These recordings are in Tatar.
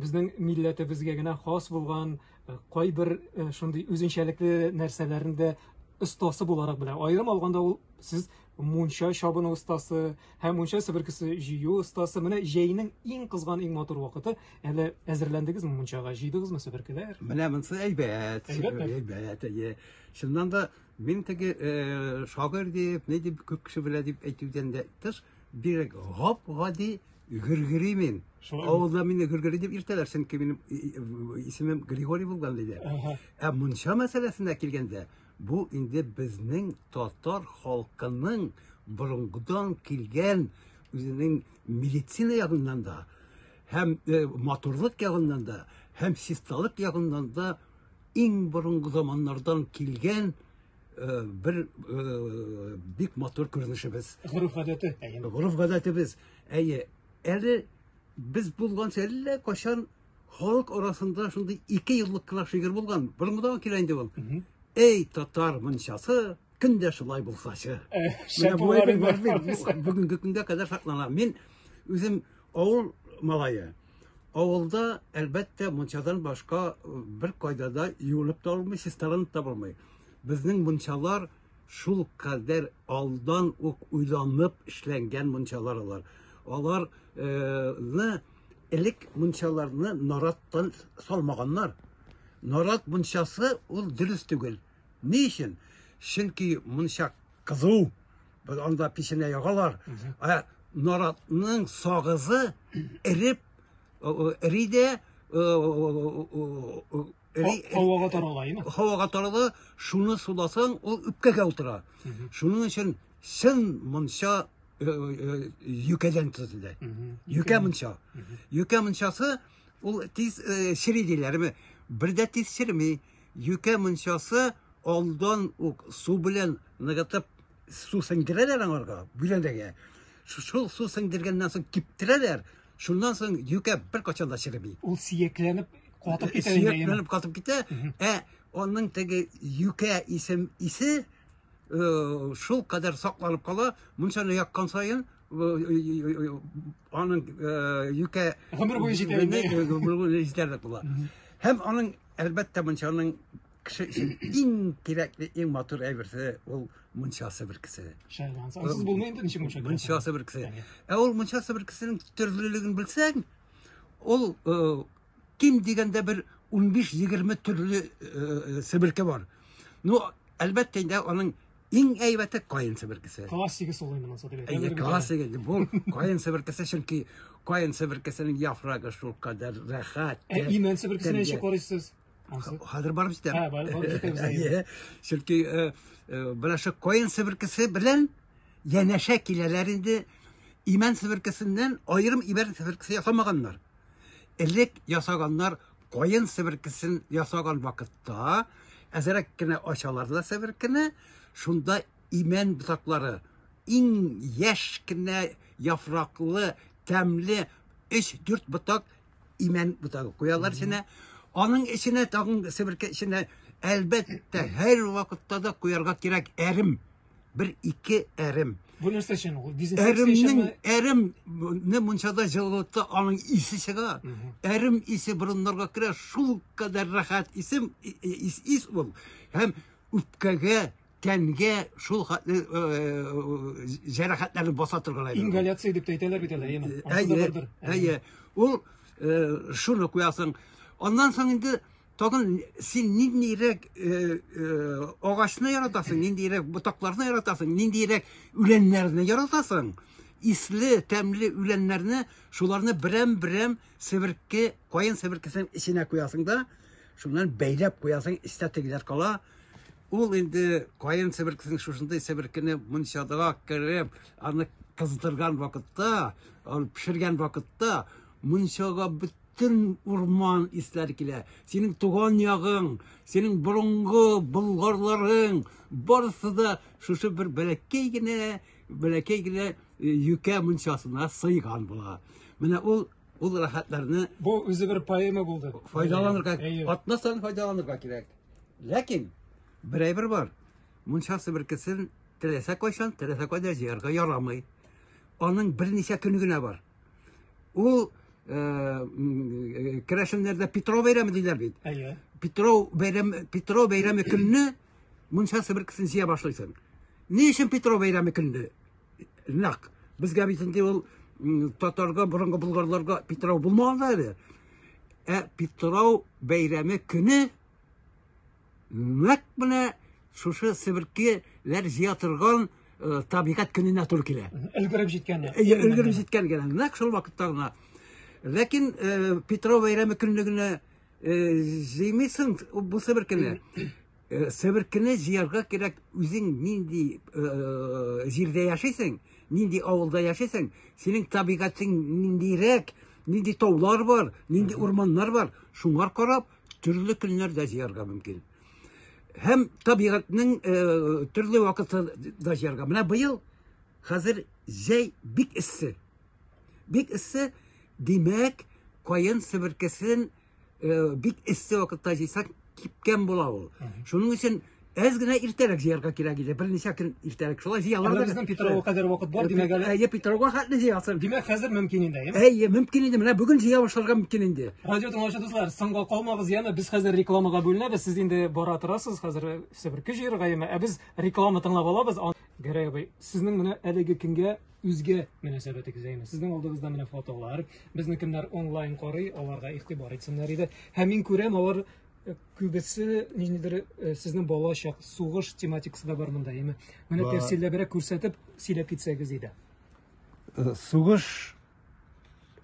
Безнең милләтебезгә генә хас булган э, кайбер э, шундый үзенчәлекле нәрсәләрне дә остасы буларак белә. Аерым алганда ул сез мунча чабыну остасы һәм мунча себеркесе җыю остасы. Менә җәйнең иң кызган, иң матур вакыты. Әле әзерләндегезме мунчага? Җыйдыгызмы себеркеләр? Менә монсы әйбәт. Әйбәтме? Әйбәт, әйе. Чыннан да мин теге э, шагыйрь дип, ни дип күп кеше белә дип әйтүдән дә тыш, Бирек гап-гади гөргери мин. Авылда мине гөргери дип иртәләр, чөнки минем исемем Григорий булган иде. Ә мунча мәсьәләсенә килгәндә, бу инде безнең татар халкының борынгыдан килгән үзенең медицина ягыннан да һәм э, матурлык ягыннан да һәм чисталык ягыннан да иң борынгы заманнардан килгән э, бер э, бик матур күренешебез. Горыф гадәте. Горыф гадәтебез. Әйе, әле без булганча әллә кашан халык арасында шундый ике еллык кына шигырь булган. Борынгыдан килә инде ул. Эй, татар мунчасы, көн дә шулай булсачы. Э, Менә бүгенге көнгә кадәр саклана. Мин үзем Авыл малае. Авылда, әлбәттә, мунчадан башка э, бер кайда да юылып та алмый, чисталанып та булмый. Безнең мунчалар шул кадәр алдан ук уйланып эшләнгән мунчалар алар. Аларны э, элек мунчаларны нараттан салмаганнар. Нарат мунчасы ул дөрес түгел. Ни өчен? Чөнки мунча кызу, Без анда печенә ягалар. Ә наратның сагызы эреп эри дә һавага тарала, имма. Һавага тарала, шуны суласаң, ул үпкәгә утыра. Шуның өчен чын монча юкәдән төзелде. Юкә монча. Юкә мончасы ул тиз чири диләрме? Бер дә тиз чирми. Юкә мунчасы алдан ук су белән ныгытып су сеңдерәләр аңарга, бүләндәгә. Шул су сеңдергәннән соң киптерәләр, шуннан соң юкә бер качан да череби. Ул сиякләнеп катып китә. Сиякләнеп катып китә, ә аның теге юкә исем исе э, шул кадәр сакланып кала, мунчаны яккан саен аның юкә гомер буе җитәрлек була. Һәм аның Әлбәттә, мунчаның кеше өчен иң кирәкле, иң матур әйберсе ул мунчасы бер кесе. Шәһәр ансы. Ансыз булмый инде ничек мунча. Мунчасы бер кесе. Ә ул мунчасы бер кесенең төрлелеген белсәң, ул э, ким дигәндә бер 15-20 төрле э, э, себерке бар. Ну, әлбәттә инде аның Иң әйбәте каен себеркесе. Классика солай моннан соң диләр. Әйе, классика. Бу каен себеркесе чөнки каен себеркесенең яфрагы шул кадәр рәхәт. Ә имән себеркесенә ничек карыйсыз? Хәзер барып җитәм. Ә, барып җитәбез. Әйе. Чөнки э, э, менә шу каен себеркесе белән янәшә киләләр инде имән себеркесеннән аерым имән себеркесе ясамаганнар. Элек ясаганнар каен себеркесен ясаган вакытта әзерәк кенә ачалар да себеркене, шунда имән ботаклары, иң яшь кенә яфраклы, тәмле 3-4 ботак имән ботагы куялар эченә. Аның эченә тагын себерке эченә әлбәттә һәр вакытта да куярга кирәк әрем. Бер ике әрем. Бу нәрсә өчен ул? Дезинфекция өченме? Әрем, әремне мунчада җылытта аның исе чыга. Әрем исе борыннарга керә, шул кадәр рәхәт исем ис, ис ул. Һәм үпкәгә, тәнгә шул хәтле җәрәхәтләрне баса торган әйбер. Ингаляция дип әйтәләр бит әле, әйеме? Әйе, әйе. Ул шуны куясың. Аннан соң инде Тагын син ниндирәк э, э, агачны яратасың, ниндирәк ботакларны яратасың, ниндирәк үләннәрне яратасың? Исле, тәмле үләннәрне, шуларны берәм-берәм себерке, каен себеркесенең эченә куясың да, шуннан бәйләп куясың, истә тегеләр кала. Ул инде каен себеркесенең шушындай себеркене мунчадага кереп, аны кыздырган вакытта, аны пешергән вакытта мунчага бөтен бөтен урман исләр килә. Синең туган ягың, синең борынгы болгарларың, барысы да шушы бер бәләкәй генә, бәләкәй генә э, юкә мунчасына сыйган була. Менә ул ул рәхәтләрне бу үзе бер поэма булды. Файдаланырга, атмастан файдаланырга кирәк. Ләкин берәй бер бар. Мунчасы бер кесен теләсә кайчан, теләсә кайда җыярга ярамый. Аның берничә көне генә бар. Ул э, э, керәшеннәрдә Петров бәйрәме диләр бит. Әйе. Петров бәйрәме Петров бәйрәме көнне мунча себеркесен җыя башлыйсың. Ни өчен Петров бәйрәме көнне? Нак. Безгә бит инде ул татарга, борынгы булгарларга Петров булмаган әле. Ә Петров бәйрәме көне нәкъ менә шушы себеркеләр җыя торган э, табигать көненә туры килә. Өлгереп җиткән. Өлгереп җиткән генә. Нәкъ шул вакытта гына. Ләкин э, Петро бәйрәме көнлегенә э, җыймыйсың бу себеркене. Э, себеркене җыярга кирәк үзең нинди э, җирдә яшисең, нинди авылда яшисең, синең табигатың ниндирәк, нинди таулар бар, нинди урманнар бар, шуңар карап Төрле көннәрдә җыярга мөмкин. Һәм табигатьнең э, төрле вакытында җыярга. Менә быел хәзер җәй бик эссе. Бик эссе, димәк, каен себеркесен э, бик эссе вакытта җыйсак кипкән була ул. Шуның өчен Әз генә иртәрәк җыярга кирәк иде, берничә көн иртәрәк. Шулай җыялар да. Безнең Питрауга кадәр вакыт бар, димәк әле. Әйе, Питрауга хәтле җыясын. Димәк, хәзер мөмкин инде, әйеме? Әйе, мөмкин инде. Менә бүген җыя башларга мөмкин инде. Радио тыңлаучы дуслар, соңга калмагыз яме. Без хәзер рекламага бүленәбез. Сез инде бара торасыз, хәзер все бер көч җыярга яме. Ә без реклама тыңлап алабыз. Гәрәй абый, сезнең менә әлеге көнгә үзгә мөнәсәбәтегез әйме? Сезнең алдыгызда менә фотолар. Безне кемнәр онлайн карый, аларга игътибар итсеннәр иде. Һәм мин күрәм, алар Күбесе ниндидер э, сезнең балачак сугыш тематикасы да бар монда, яме. Менә Бар. тәфсилләбрәк күрсәтеп сөйләп китсәгез иде. Э, сугыш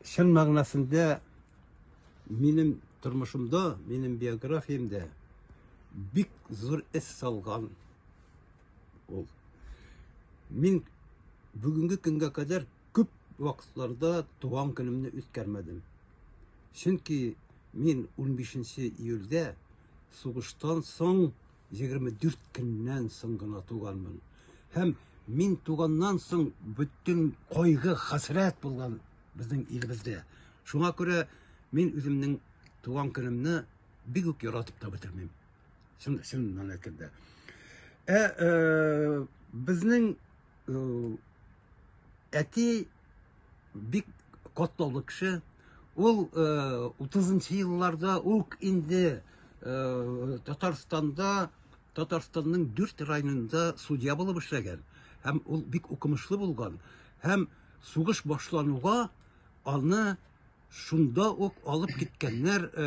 чын мәгънәсендә минем тормышымда, минем биографиямдә бик зур эз салган ул. Мин бүгенге көнгә кадәр Күп вакытларда туган көнемне үткәрмәдем. Чөнки мин 15 июльдә сугыштан соң 24 көннән соң гына туганмын. Һәм мин туганнан соң бөтен кайгы, хәсрәт булган безнең илебездә. Шуңа күрә мин үземнең туган көнемне бик үк яратып та бетермим. Чын, чын мәнәкәдә. Ә, ә безнең Әти бик катлаулы кеше. Ул 30-нчы э, елларда ук инде э, Татарстанда Татарстанның дүрт районында судья булып эшләгән һәм ул бик укымышлы булган һәм сугыш башлануга аны Шунда ук алып киткәннәр э,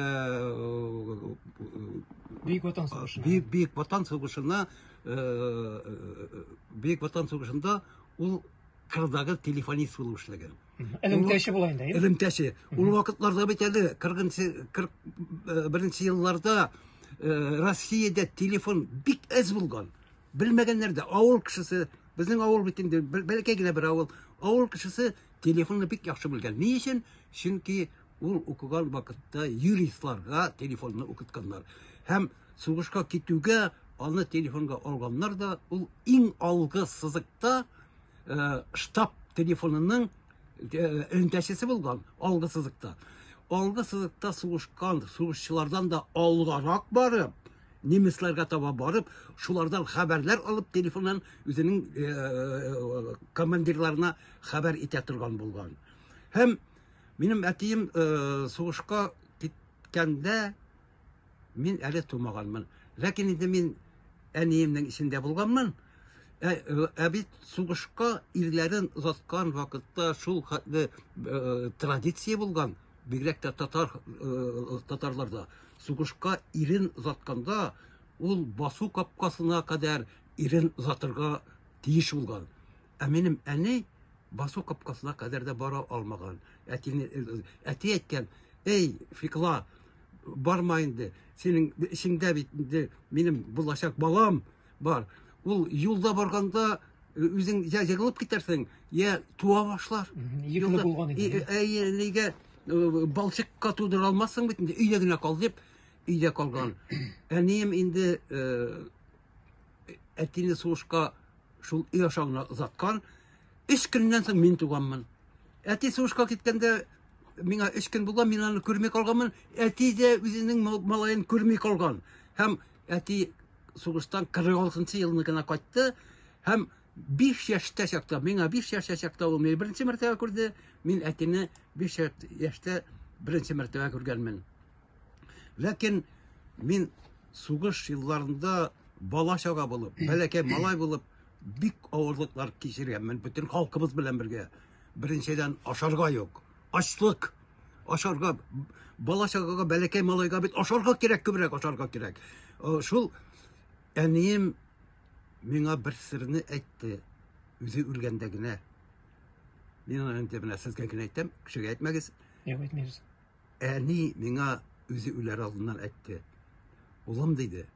Бөек Ватан сугышына. Бөек, Бөек Ватан сугышына э, э, Бөек Ватан сугышында ул Кырдагы телефонист булып эшләгән. Элемтәче була инде. Элемтәче. Ул вакытларда бит әле 41 41 елларда Россиядә телефон бик әз булган. Белмәгәннәр дә авыл кешесе, безнең авыл бит инде бәләкәй генә бер авыл. Авыл кешесе телефонны бик яхшы белгән. Ни өчен? Чөнки ул укыган вакытта юристларга телефонны укытканнар. Һәм сугышка китүгә аны телефонга алганнар да, ул иң алгы сызыкта э, штаб телефонының э, элемтәчесе булган, алгы сызыкта. Алгы сызыкта сугышкан сугышчылардан да алгарак барып, немецларга таба барып, шулардан хәбәрләр алып, телефоннан үзенең э, э, командирларына хәбәр итә торган булган. Һәм минем әтием э, сугышка киткәндә мин әле тумаганмын. Ләкин инде мин әниемнең исендә булганмын. Ә, ә бит сугышка ирләрен озаткан вакытта шул хәтле традиция булган. Бигрәк тә татар татарларда сугышка ирен озатканда ул басу капкасына кадәр ирен озатырга тиеш булган. Ә минем әни басу капкасына кадәр дә бара алмаган. Әтине әти әйткән, "Эй, Фикла, барма инде. Синең эчеңдә бит инде минем булачак балам Бар. Ул юлда барганда э, үзең я егылып китәрсең, я туа башлар. Егылып булган иде. Әйе, нигә э, балчыкка тудыра алмассың бит инде, өйдә генә кал дип, өйдә калган. Әнием инде э, әтине сугышка шул өй аша гына озаткан. Өч көннән соң мин туганмын. Әти сугышка киткәндә миңа өч көн булган, мин аны күрми калганмын. Әти дә үзенең малаен күрми калган. Һәм әти сугыштан 46 елны гына кайтты һәм 5 яшьтә чакта, миңа 5 яшьтә чакта ул мине беренче мәртәбә күрде, мин әтине 5 яшьтә беренче мәртәбә күргәнмен. Ләкин мин сугыш елларында бала чага булып, бәләкәй малай булып бик авырлыклар кичергәнмен бөтен халкыбыз белән бергә. Беренчедән ашарга юк, ачлык, ашарга бала чагага бәләкәй малайга бит ашарга кирәк күбрәк ашарга кирәк шул әнием миңа бер серне әйтте үзе үлгәндә генә мин аны инде менә сезгә генә әйтәм кешегә әйтмәгез юк әйтмибез әни миңа үзе үләр алдыннан әйтте улым диде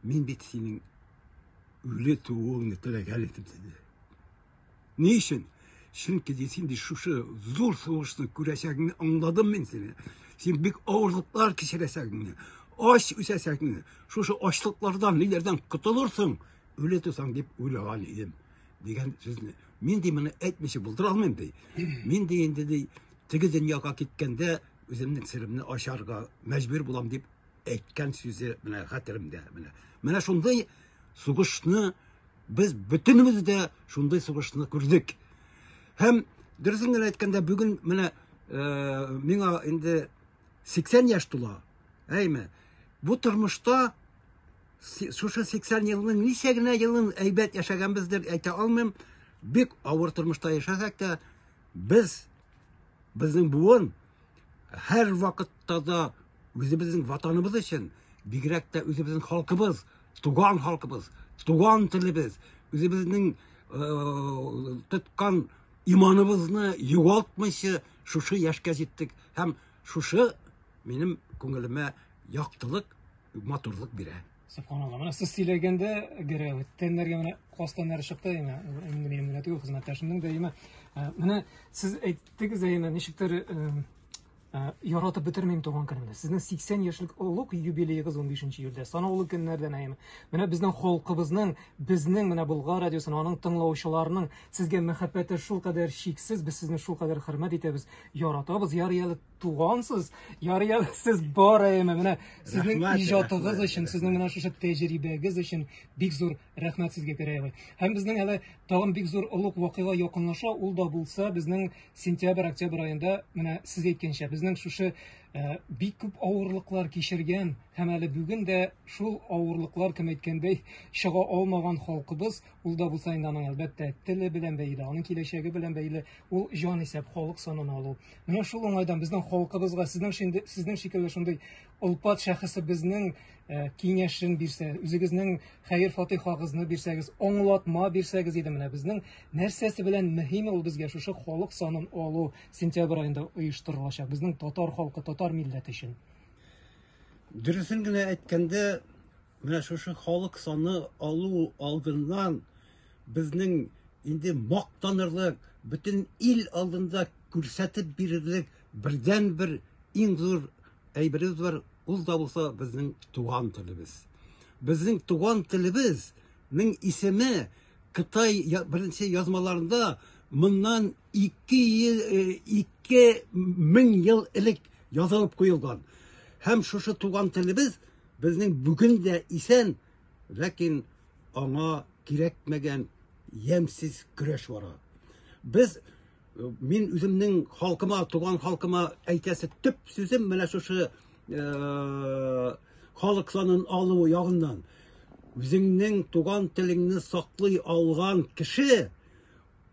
мин бит синең үле тууыңны теләгән идем диде Ни өчен? Чөнки ди син ди шушы зур сугышны күрәчәгеңне аңладым мин сине. Син бик авырлыклар кичерәчәгеңне, ач үсәчәгеңне, шушы ачлыклардан, ниләрдән котылырсың, үле тусаң дип уйлаган идем дигән сүзне. Мин ди моны әйтмичә булдыра алмыйм ди. Мин ди инде ди теге дөньяга киткәндә үземнең серемне ачарга мәҗбүр булам дип әйткән сүзе менә хәтеремдә менә. Менә шундый сугышны без бөтенебез дә шундый сугышны күрдек. Һәм дөресен генә әйткәндә, бүген менә э, миңа инде 80 яшь тула. Әйме, бу тормышта шушы 80 елның ничә генә елын әйбәт яшәгәнбездер әйтә алмыйм. Бик авыр тормышта яшәсәк тә, без безнең буын Һәр вакытта да үзебезнең ватаныбыз өчен, бигрәк тә үзебезнең халкыбыз, туган халкыбыз, туган телебез, үзебезнең э, тоткан иманыбызны югалтмыйча шушы яшькә җиттек һәм шушы минем күңелемә яктылык, матурлык бирә. Субханалла. Менә сез сөйләгәндә гәрә тәннәргә менә каз тәннәре чыкты яме. Инде минем генә түгел, хезмәттәшемнең дә яме. Э, менә сез әйттегез яме, ничектер э, э, яратып бетермим туган көнемне. Сезнең 80 яшьлек олуг юбилеегыз 15 июльдә. Санаулы көннәрдән яме. Менә безнең халкыбызның, безнең менә Болгар радиосының аның тыңлаучыларының сезгә мәхәббәте шул кадәр чиксез, без сезне шул кадәр хөрмәт итәбез, яратабыз. Ярый әле тугансыз. Ярый әле сез бар әйеме. Менә сезнең Рәхмәт, иҗатыгыз рәхмәт, өчен, сезнең менә шушы тәҗрибәгез өчен бик зур рәхмәт сезгә Гәрәй абый. Һәм безнең әле тагын бик зур олуг вакыйга якынлаша, ул да булса безнең сентябрь-октябрь аенда менә сез әйткәнчә безнең шушы э, бик күп авырлыклар кичергән һәм әле бүген дә шул авырлыклар кем әйткәндәй чыга алмаган халкыбыз, ул да булса инде аның әлбәттә теле белән бәйле, аның киләчәге белән бәйле, ул җан исәп халык санын алу. Менә шул уңайдан безнең халкыбызга сезнең шинде, сезнең шикелле шундый олпат шәхесе безнең э, киңәшен бирсә, үзегезнең хәер фатихагызны бирсәгез, аңлатма бирсәгез иде менә безнең нәрсәсе белән мөһим ул безгә шушы халык санын алу сентябрь айында оештырылачак безнең татар халкы, татар милләте өчен. Дөресен генә әйткәндә, Менә шушы халык саны алу алдыннан безнең инде мактанырлык, бөтен ил алдында күрсәтеп бирерлек бердәнбер иң зур әйберебез бар, ул да булса безнең туган телебез. Безнең туган телебезнең исеме Кытай беренче язмаларында моннан 2000 ел элек язылып куелган. Һәм шушы туган телебез Безнең бүген дә исән, ләкин аңа кирәкмәгән ямьсез көрәш бара. Без мин үземнең халкыма, туган халкыма әйтәсе төп сүзем менә шушы э, халык санын алу ягыннан. Үзеңнең туган телеңне саклый алган кеше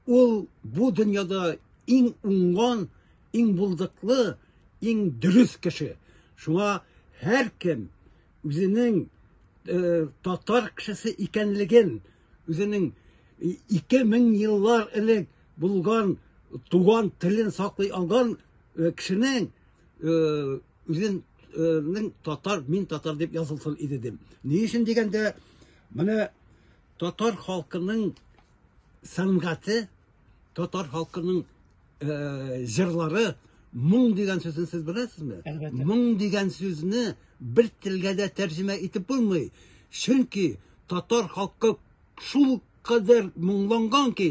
ул бу дөньяда иң уңган, Иң булдыклы, иң дөрес кеше. Шуңа һәркем үзенең э, татар кешесе икәнлеген, үзенең 2000 еллар элек булган туган телен саклый алган э, кешенең э, үзен Э, татар мин татар дип язылсын иде дим ни өчен дигәндә менә татар халкының сәнгате Татар халкының э, җырлары моң дигән сүзен сез беләсезме? Әлбәттә. Моң дигән сүзне бер телгә дә тәрҗемә итеп булмый. Чөнки татар халкы шул кадәр моңланган ки,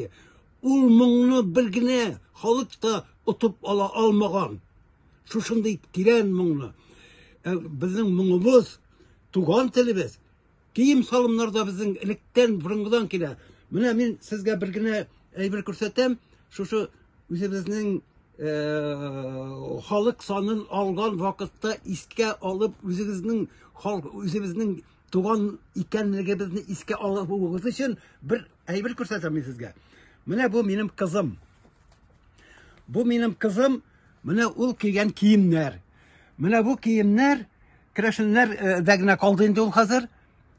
ул моңны бер генә халык та отып ала алмаган. Шушындый тирән моңны. Э, Безнең моңыбыз, туган телебез, Кием-салымнар да безнең электән, борынгыдан килә. Менә мин сезгә бер генә әйбер күрсәтәм. Шушы үзебезнең Э, халык санын алган вакытта искә алып үзегезнең халык үзебезнең туган икәнлегебезне искә алуыгыз өчен бер әйбер күрсәтәм мин сезгә. Менә бу минем кызым. Бу минем кызым, менә ул кигән киемнәр. Менә бу киемнәр керәшеннәр э, дә генә калды инде ул хәзер.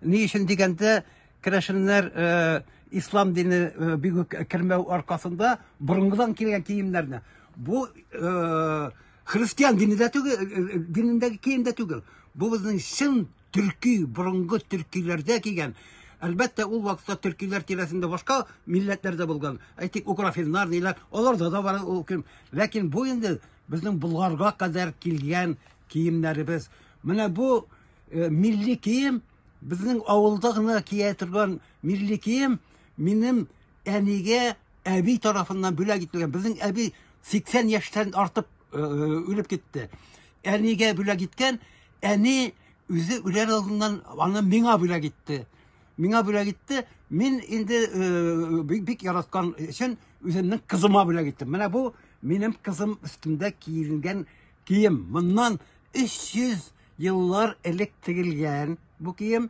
Ни өчен дигәндә, керәшеннәр э, ислам дине э, бик үк кермәү аркасында борынгыдан килгән киемнәрне. Бу христиан дине дә түгел, динендәге кием дә түгел. Бу безнең чын төрки, борынгы төркиләрдә кигән. Әлбәттә, ул вакытта төркиләр тирәсендә башка милләтләр дә булган. Әйтик, украфиннар диләр, аларда да бар ул кем. Ләкин бу инде безнең Болгарга кадәр килгән киемнәребез. Менә бу э, милли кием, безнең авылда гына кия торган милли кием минем әнигә әби тарафыннан бүләк ителгән. Безнең әби 80 яшьтән артып э, э, үлеп китте. Әнигә бүләк иткән Әни үзе үләр алдыннан аны миңа бүләк итте. Миңа бүләк итте. Мин инде э, бик, бик яраткан өчен үземнең кызыма бүләк иттем. Менә бу минем кызым өстендә киенгән кием. Моннан 300 еллар элек тегелгән бу кием.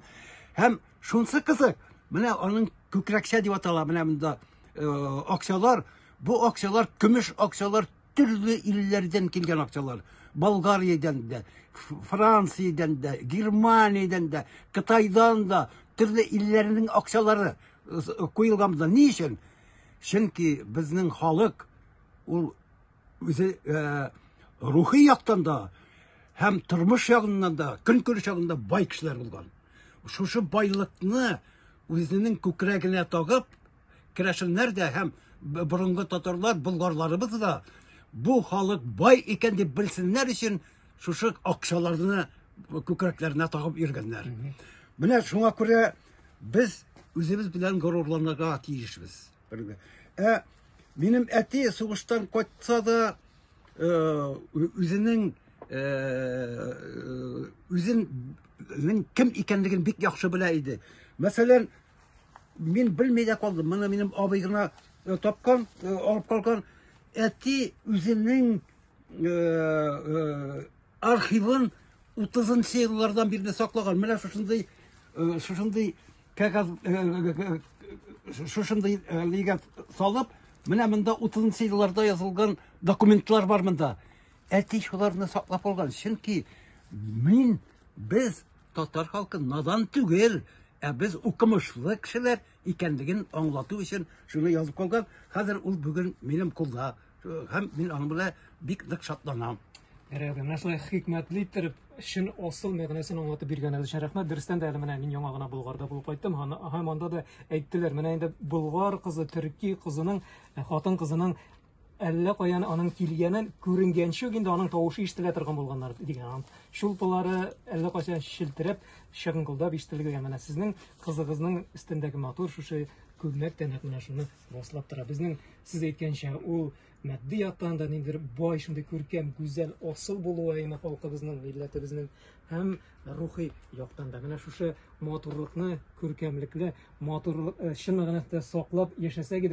Һәм шунсы кызык, менә аның күкрәкчә дип атала, менә монда э, акчалар, бу акчалар, көмеш акчалар төрле илләрдән килгән акчалар. Болгариядән дә, Франциядән дә, Германиядән дә, Кытайдан да төрле илләрнең акчалары куелган монда. Ни өчен? Чөнки безнең халык ул үзе э, рухи яктан да һәм тормыш ягыннан да, көнкүреш ягында бай кешеләр булган. Шушы байлыкны үзенең күкрәгенә тагып, керәшеннәр дә һәм борынгы татарлар, болгарларыбыз да бу халык бай икән дип белсеннәр өчен шушы акчаларны күкрәкләренә тагып йөргәннәр. Менә шуңа күрә без үзебез белән горурланырга тиешбез. Ә минем әти сугыштан кайтса да э, үзенең э, э, үзенең кем икәнлеген бик яхшы белә иде. Мәсәлән, Мин белми дә калдым. Моны минем абый гына э, тапкан, э, алып калган. Әти үзенең э, архивын 30 еллардан бирле саклаган. Менә шушындый шушындый кәгазь шушындый лигә салып, менә монда 30 елларда язылган документлар бар монда. Әти шуларны саклап калган. Чөнки мин без татар халкы надан түгел. Ә без укымышлы кешеләр икәнлеген аңлату өчен шуны язып калган. Хәзер ул бүген минем кулда һәм мин аның белән бик нык шатланам. Рәхмәт. Менә шулай хикмәтле иттереп, чын асыл мәгънәсен аңлатып биргән әле өчен рәхмәт. Дөрестән дә әле менә мин яңа гына Болгарда булып кайттым. Һаны- Һәм анда да әйттеләр, менә инде болгар кызы, төрки кызының, э, хатын кызының Әллә каян аның килгәнен күренгәнче үк инде аның тавышы ишетелә торган булганнар дигән анам. Чулпылары әллә кайчан челтерәп, чыгыңгылдап ишетелгән. Менә сезнең кызыгызның өстендәге матур шушы күлмәк тә нәкъ менә шуны раслап тора. Безнең сез әйткәнчә ул матди яктан да ниндидер бай, шундый күркәм, гүзәл, асыл булуы әйме халкыбызның, милләтебезнең һәм рухи яктан да. Менә шушы матурлыкны, күркәмлекне, матурлык, э, чын мәгънәсендә саклап яшәсәк иде.